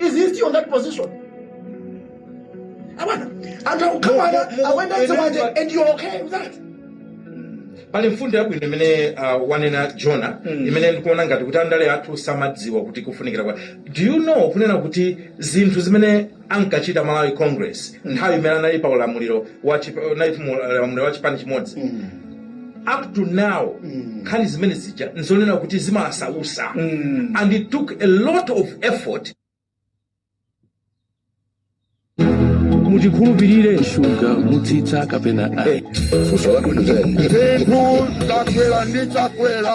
Is he still on that position? and you're okay with that? pali mfundo yabwino imene uh, wanena jona mm. imene ndikuona ngati kuti andale athu samadziwa kuti kufunikira kwa do you know kunena kuti zinthu zimene ankachita malawi congress nthawi imene anali pa ulamuliro wa chipani chimodzi up to now nkhani zimene zija nzonena kuti zimasausa and it took a lot of effort mutikhulupirire shuga mutsitsa kapena ayi Zinthu zakwera ndi chakwera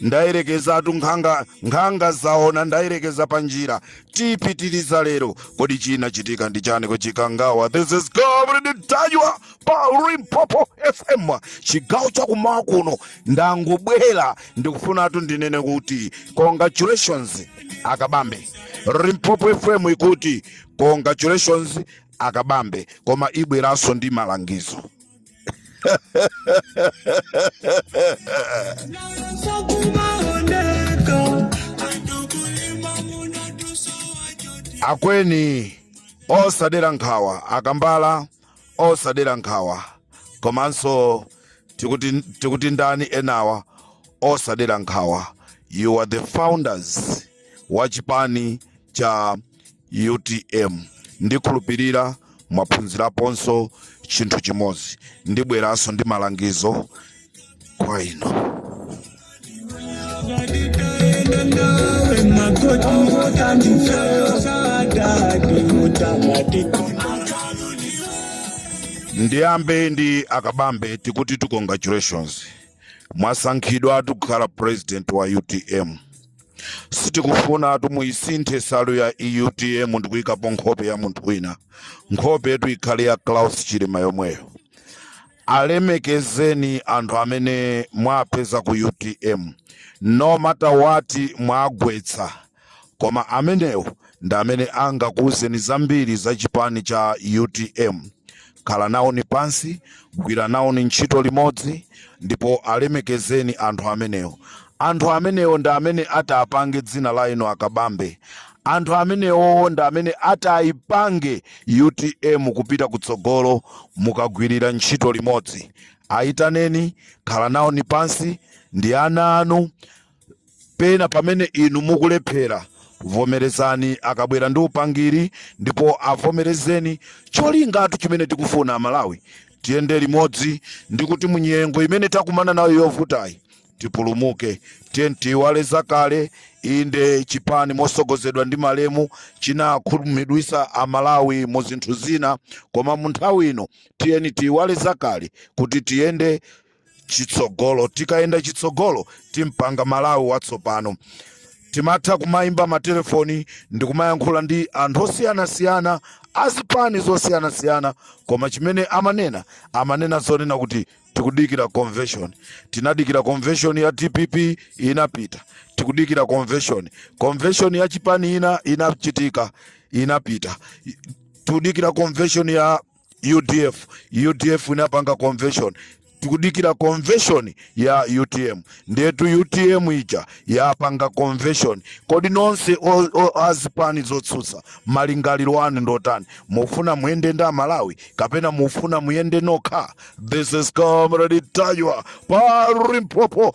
ndayerekezatu nkhanga zaona ndayerekeza pa njira tipitiriza lero kodi chinachitika ndi chani ku chikangawa this is comrade ntanyiwa pa limpopo fm chigawo chakumawa kuno ndangobwera ndikufunatu ndinene kuti congratulations a kabambe limpopo fm ikuti congratulations a kabambe koma ibweranso ndi malangizo akweni osadera nkhawa a kambala osadera nkhawa komanso tikuti ndani enawa osadera nkhawa you are the founders wa chipani cha utm ndikhulupirira mwaphunziraponso chinthu chimodzi ndibweranso ndi malangizo kwa inu ndiyambe ndi a kabambe tikutitu congratulations mwasankhidwa kukhala president wa utm sitikufunatu muisinthe salu ya utm ndikuyikapo nkhope ya munthu wina nkhope yetu ikhale ya klaus chilima yomweyo alemekezeni anthu amene mwapeza ku utm no matter what mwagwetsa koma amenewo ndi amene angakuwuzeni zambiri za chipani cha utm khala nawoni pansi, gwira nawoni ntchito limodzi, ndipo alemekezeni anthu amenewo. Anthu amenewo ndi amene atapange dzina la inu a Kabambe. Anthu amenewowo ndi amene atayipange utm kupita kutsogolo mukagwirira ntchito limodzi. Ayitaneni, khala nawoni pansi ndi ana anu, Pena pamene inu mukulephera, vomerezani akabwera ndi upangiri ndipo avomerezeni. Cholingatu chimene tikufuna Amalawi tiyende limodzi ndi kuti munyengo imene takumana nayo yovutayi tipulumuke. Tiyeni tiiwale zakale. Inde, chipani mosogozedwa ndi malemu chinakhumudwisa Amalawi mu zinthu zina, koma mu nthawi ino tiyeni tiiwale zakale kuti tiyende chitsogolo tikayenda chitsogolo tipanga malawi watsopano timatha kumayimba matelefoni ndi kumayankhula ndi anthu osiyanasiyana azipani zosiyanasiyana koma chimene amanena amanena zonena kuti tikudikira convention tinadikira convention ya dpp inapita tikudikira convention convention ya chipani ina inachitika inapita tikudikira convention ya udf udf inapanga convention tikudikira convention ya utm ndetu utm ija yapanga convention kodi nonse o- o- azipani zotsutsa malingaliro anu ndotani mufuna muyende ndi amalawi kapena mufuna muyende nokha this is comrade taywa pa limpopo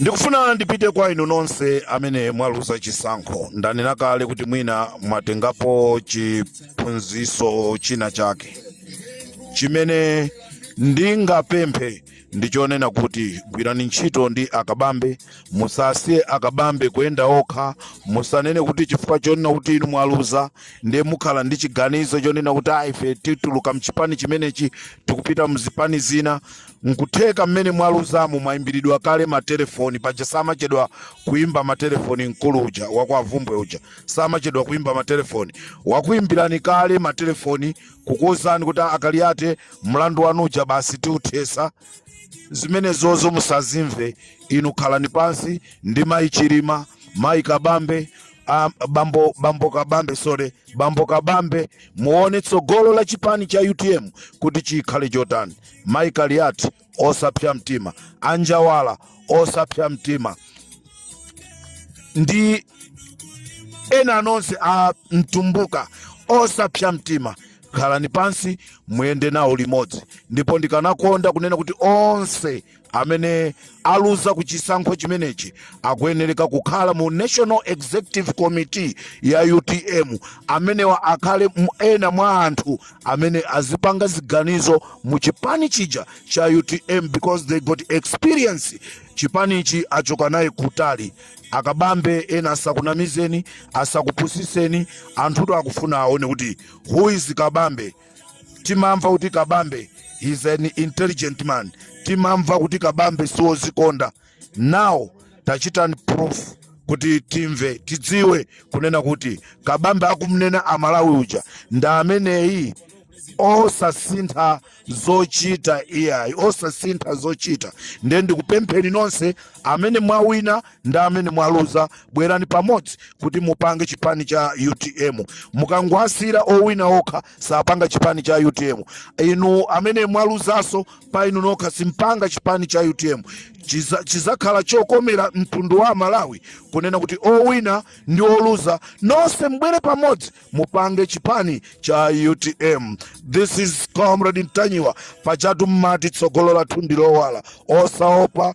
Ndikufuna ndipite kwa inu nonse amene mwaluza chisankho. Ndanena kale kuti mwina mwatengapo chiphunziso china chake. Chimene ndingapemphe ndi chonena kuti gwirani ntchito ndi akabambe, musasiye akabambe kuyenda okha, musanene kuti chifukwa chonena kuti inu mwaluza ndiye mukhala ndi chiganizo chonena kuti ah, ife tituluka mchipani chimenechi tikupita mzipani zina. Nkutheka mmene mwaluzamu mwaimbilidwa kale ma telephone paja samachedwa kuimba ma telephone mkulu uja wa kwa Vumbwe uja samachedwa kuimba ma telephone wakuimbilani kale ma telephone kukuuzani kuti a Kaliate mlandu wanu uja basi tiuthesa zimenezozo musazimve inu khalani pansi ndi mayi Chilima mayi Kabambe a bambo bambo Kabambe sorry bambo Kabambe muone tsogolo la chipani cha utm kuti chikhale chotani. Mai Kaliati osapsa mtima, anjawala osapsa mtima ndi ena nonse a mtumbuka osapsa mtima khalani pansi muyende nawo limodzi ndipo ndikanakonda kunena kuti onse amene aluza ku chisankho chimenechi akuyenereka kukhala mu national executive committee ya utm amenewa akhale ena mwa anthu amene azipanga ziganizo mu chipani chija cha utm because they got experience chipanichi achoka naye kutali akabambe ena asakunamizeni asakupusiseni anthutu akufuna aone kuti who is kabambe timamva kuti kabambe is an intelligent man timamva kuti kabambe siwozikonda now tachitani proof kuti timve tidziwe kunena kuti kabambe akumnena amalawi uja ndi ameneyi osasintha zochita iyayi osasintha zochita ndiye ndikupempheni nonse amene mwawina ndi amene mwaluza bwerani pamodzi kuti mupange chipani cha utm mukangwasira owina okha sapanga chipani cha utm inu amene mwaluzaso pa inu nokha simpanga chipani cha utm Chiza- chizakhala chokomera mtundu wa malawi kunena kuti owina ndi oluza nonse mbwere pamodzi mupange chipani cha utm this is comrade ntanyiwa pachatu mmati tsogolo lathu ndilowala osaopa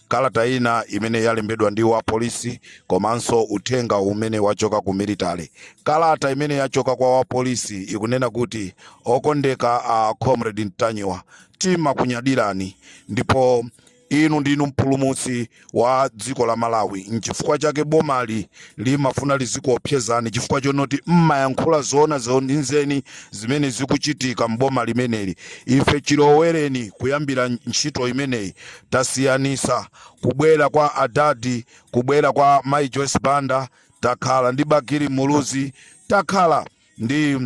kalata ina imene yalembedwa ndi wapolisi komanso uthenga umene wachoka ku military kalata imene yachoka kwa wapolisi ikunena kuti okondeka a comrade ntanyiwa timakunyadirani ndipo inu ndinu mpulumutsi wa dziko la malawi nchifukwa chake bomali limafuna lizikuopsezani chifukwa chonoti mmayankhula zoona zenizeni zimene zikuchitika mboma limeneli ife chilowereni kuyambira ntchito imeneyi tasiyanisa kubwera kwa adadi kubwera kwa mai joyce banda takhala ndi bakili muluzi takhala ndi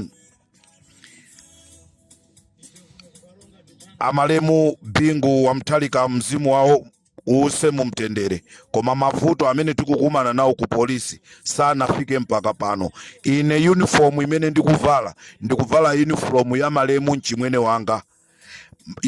amalemu bingu wa mutharika mzimu wawo uuse mumtendere koma mavuto amene tikukumana nawo ku polisi sanafike mpaka pano ine uniform imene ndikuvala ndikuvala uniform ya malemu mchimwene wanga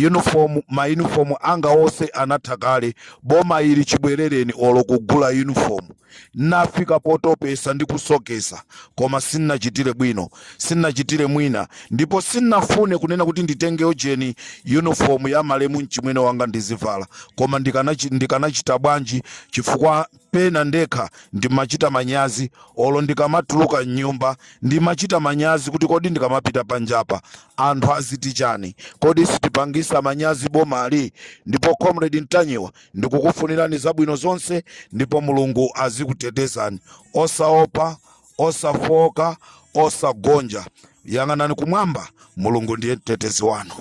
uniform ma uniform anga onse anatha kale boma ili chibwerereni olo kugula uniform nafika potopesa ndi kusokesa koma sinachitire bwino sinachitire mwina ndipo sinafune kunena kuti nditenge ojeni uniform ya malemu mchimwene wanga ndizivala koma ndikanachi- ndikanachita bwanji chifukwa Pena ndekha ndimachita manyazi olo ndikamatuluka m'nyumba. Ndimachita manyazi kuti kodi ndikamapita panjapa anthu aziti chani? Kodi sitipangisa manyazi bomali? Ndipo Comrade Ntanyiwa ndikukufunirani zabwino zonse ndipo Mulungu azikutetezani. Osaopa, osafooka, osagonja. Yang'anani kumwamba, Mulungu ndiye mtetezi wanu.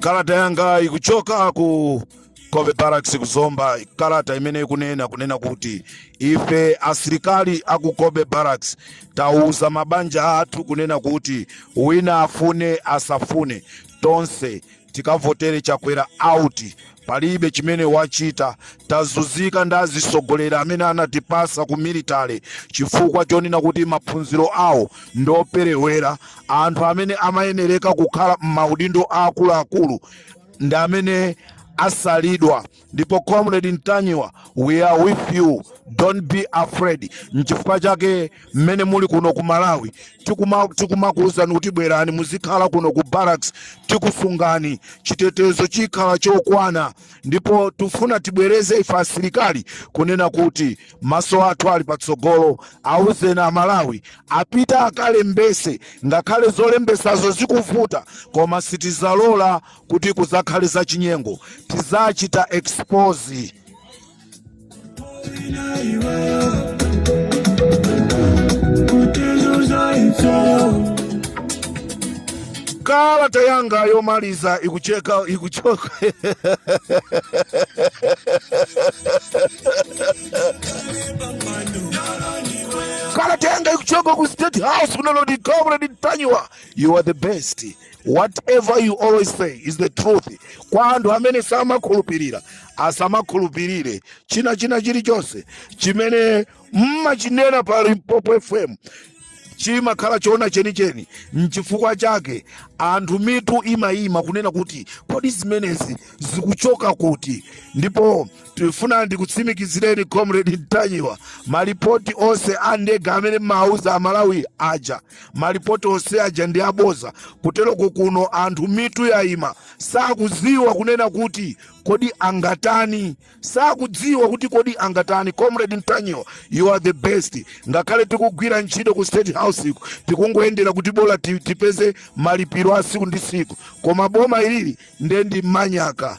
kalata yanga ikuchoka ku cobbe barracks ku zomba kalata imene ikunena kunena kuti ife asilikali aku cobbe barracks tauza mabanja athu kunena kuti wina afune asafune tonse tikavotere chakwera out palibe chimene wachita tazuzika ndi azitsogoleri amene anatipasa ku military chifukwa chonena kuti maphunziro awo ndi operewera anthu amene amayenereka kukhala m'maudindo aakuluakulu ndi amene asalidwa ndipo comrade ntanyiwa we are with you don't be afraid nchifukwa chake mmene muli kuno ku malawi tikumakuwuzani kuti bwerani muzikhala kuno ku barracks tikusungani chitetezo chikhala chokwana ndipo tifuna tibwereze ife asilikali kunena kuti maso athu ali patsogolo awuzeni amalawi apita akalembese ngakhale zolembesazo zikuvuta koma sitizalola kuti kuzakhale zachinyengo tizachita expose kalata yanga yomaliza ikucheka ikuchoka kalata yanga ikuchoka ku state house kunalo ati comrade ntanyiwa you are the best whatever you always say is the truth kwa anthu amene samakhulupirira asamakhulupirire china china chilichonse chimene mmachinena pa limpopo fm chimakhala choona chenicheni nchifukwa chake anthu mitu imayima kunena kuti kodi zimenezi zikuchoka kuti ndipo tifuna ndikutsimikizireni comrade ntanyiwa malipoti onse a ndege amene amauza amalawi aja malipoti onse aja ndi aboza kuteroko kuno anthu mitu yayima sakudziwa kunena kuti kodi angatani sakudziwa kuti kodi angatani comrade ntanyiwa you are the best ngakhale tikugwira ntchito ku state house iku tikungoyendera kuti bola ti- tipeze malipiro a siku ndi siku koma boma ilili nde ndi manyaka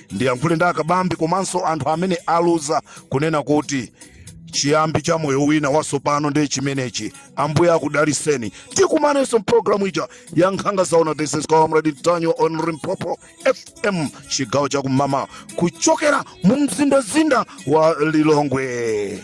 ndiyankhule ndi akabambi komanso anthu amene aluza kunena kuti chiyambi cha moyo wina watsopano ndi chimenechi ambuye akudaliseni tikumanenso mpulogalamu ija ya nkhanga zaona this is comrade ntanyiwa on limpopo fm chigawo chakummawa kuchokera mu mzindazinda wa lilongwe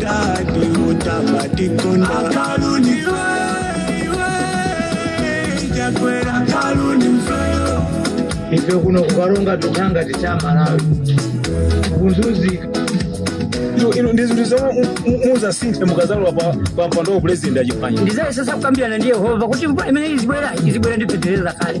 Daddy, what am I doing? Akaruni Chakwera Akaruni ife kuno kukaronga tukhanga tichamalawi kunzuzika Ino- ino ndi zinthu zomwe mu- mu- muzasinthe mukazalowa pa- pa mpando wa president achipanya ndizayesesa kukambirana ndi yehova kuti mvula imene izibwera izibwera ndi fetereza kale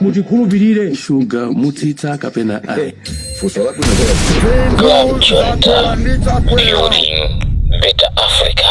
mutikhulupirire shuga mutsitse kapena ayi funso labwino Grand Chonta, building better Africa.